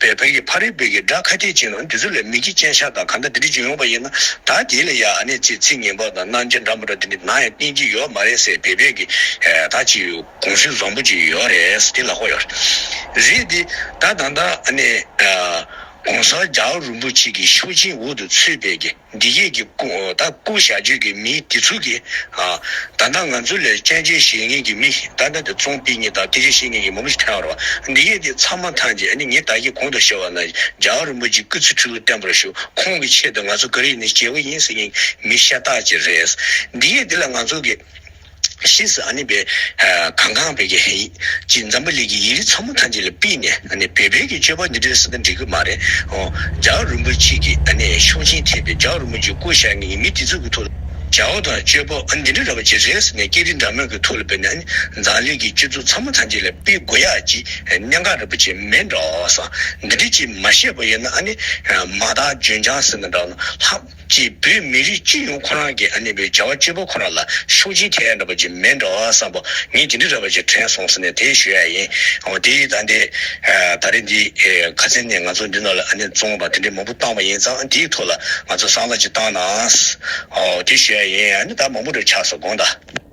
པའི་བོད་ཀྱི་ཕ་རོལ་བོད་ཀྱི་སྒྲ་ཁ་ཐེག་བྱེད་ནང་འདི་ཚོ་ལས་མི་གི་སྤྱན་ཤ་དང་ག་འདྲ་འདི་འདྲི་བྱེད་ཡོང་པ་ཡིན་ན་ད་དེ་ལས་ཡ་ཨ་ནེ་ཚེ་ཚིག་ངན་པ་དང་སྣང་བྱེད་འགྲམ་པ་འདྲ་འདི་འདྲི་ན་ཡང་བསྟེན་གྱི་ཡོད་མ་རེད་སེ་བེ་བོད་ཀྱི་ད་ཅི་གོང་ཞུས་བཟང་པོ་ཅིག་ཡོད་རེད་དེ་ལ་ཧོ་ཡོད་རེད་དེ་ད་ད་ད་ཨ་ནེ་གོང་ས་རྒྱ་རུ་པུ་ཆི་ཀི་ཤོ་ཆིན་འུ་དུ་ཚུད་པའི་ཀི། འདི་སྐད་ཀྱི་ད་སྐུ་བྱ་རྒྱུད་ཀྱི་མི་དེ་ཚུལ་གྱི། ད་ལྟ་ང་ཚོ་ལས་སྤྱན་རྗེས་བཞེས་ངེས་ཀྱི་མི་ཞིག་ད་ལྟ་དེ་ཚོང་དཔེ་གཉིས་དང་དེ་རྗེས་བཞེས་ངེས་ཀྱི་མ་མོ་ཞིག་ཐལ་བར་བ། འདི་སྐད་དེ་ཚང་མ་ཐང་རྗེས་ནི་ངེད་ད་ཀྱི་གོང་དུ་བཤད་བ་ན་རྒྱའོ་རིན་པོ་ཆེ་སྐུ་ཚེ་ཕྲུ་གུ་བརྟན་པོར་བཞུགས་ཁོང་གི་ཆེད་དུ་ང་ཚོ་ཀ་རིག་ནི་སྐྱེ་བོ་ཡིན་ཟེར་ངེས་ཀྱི་མི་ཤ་སྟག་ཅིག་རེད། འདི་སྐད་དེ་ལ་ང་ཚོ་ཀྱི། ཤེས་སུ་ཨ་ནི་བས། གང་གང་བས་ཀྱི་ཧེ། ཅེས་འཛམ་བུ་ལས་ཀྱི་ཡིག་རིགས་ཚང་མ་ཐམས་ཅད་ལ་པིས་ནས་ཨ་ནི་བས་བོད་ཀྱི་སྤྱོད་པ་འདི་འདྲའི་ས་ད་འགྲིག་གི་མ་རེད་ཨོ། ཇའོ་རིན་པོ་ཆེ་གིས་ཨ་ནི་ཤོག་ཆེན་ཐེབས་པའི་ཇའོ་རིན་པོ་ཆེ་སྐུ་ཞག་གཉིས་མི་དེ་ཚོ་གི་ཐུགས་ལ་ཇའོ་དང་སྤྱོད་པ་འདི་འདྲ་ར་བ་ཅི་རེད་ཟེར་ནས་སྐད་རིགས་འདྲ་མོད་ཀྱི་ཐུགས་ལ་བས་ནས་ཨ་ནི་འཛམ་གླིང་གི་སྤྱི་ཚོགས་ཚང་མ་ཐམས་ཅད་ལ་པིས་དགོས་ཡ་ཅིག་གནད་འགག་ར་བ་ཅིག་མེད་འགྲོ་ས་འདི་འདྲ་ཅིག་མ་ཤེས་པ་ཡོད་ན་ཨ་ནི་མ་དག་ལྗོན་ལྗང་ཟེར་ན་འདྲ་ལྷག། ཅེས་བོད་མི་རིགས་སྤྱི་ཡོངས་ཁོ་རང་གི་ཨ་ནེ་བའི་བྱ་བ་སྤྱོད་པ་ཁོ་རང་ལ་ཤུགས་རྐྱེན་ཐེབས་ཡ་འདྲ་པ་ཅིག་མེད་འདྲ་བསམ་པ་ངས་ཇི་འདྲི་འདྲ་པ་ཅིག་དྲན་སོང་ཟེར་ནས་དེ་ཞུ་ཡ་ཡིན། འོ་དེ་ད་ནི་ད་རེས་འདི་ག་ཚེ་ནས་ང་ཚོ་འདི་ནང་ལ་ཨ་ནེ་བཙོང་བ་དེ་འདྲའི་མང་པོ་བཏང་བ་ཡིན་ཙང་འདིའི་ཐོག་ལ་ང་ཚོ་གསང་བརྡ་ཅིག་བཏང་ནའང། འོ་དེ་ཞུ་ཡ་ཡིན་ཨ་ནེ་ད་མང་པོ་འདྲ་ཆགས་སོང་དགོངས་དག།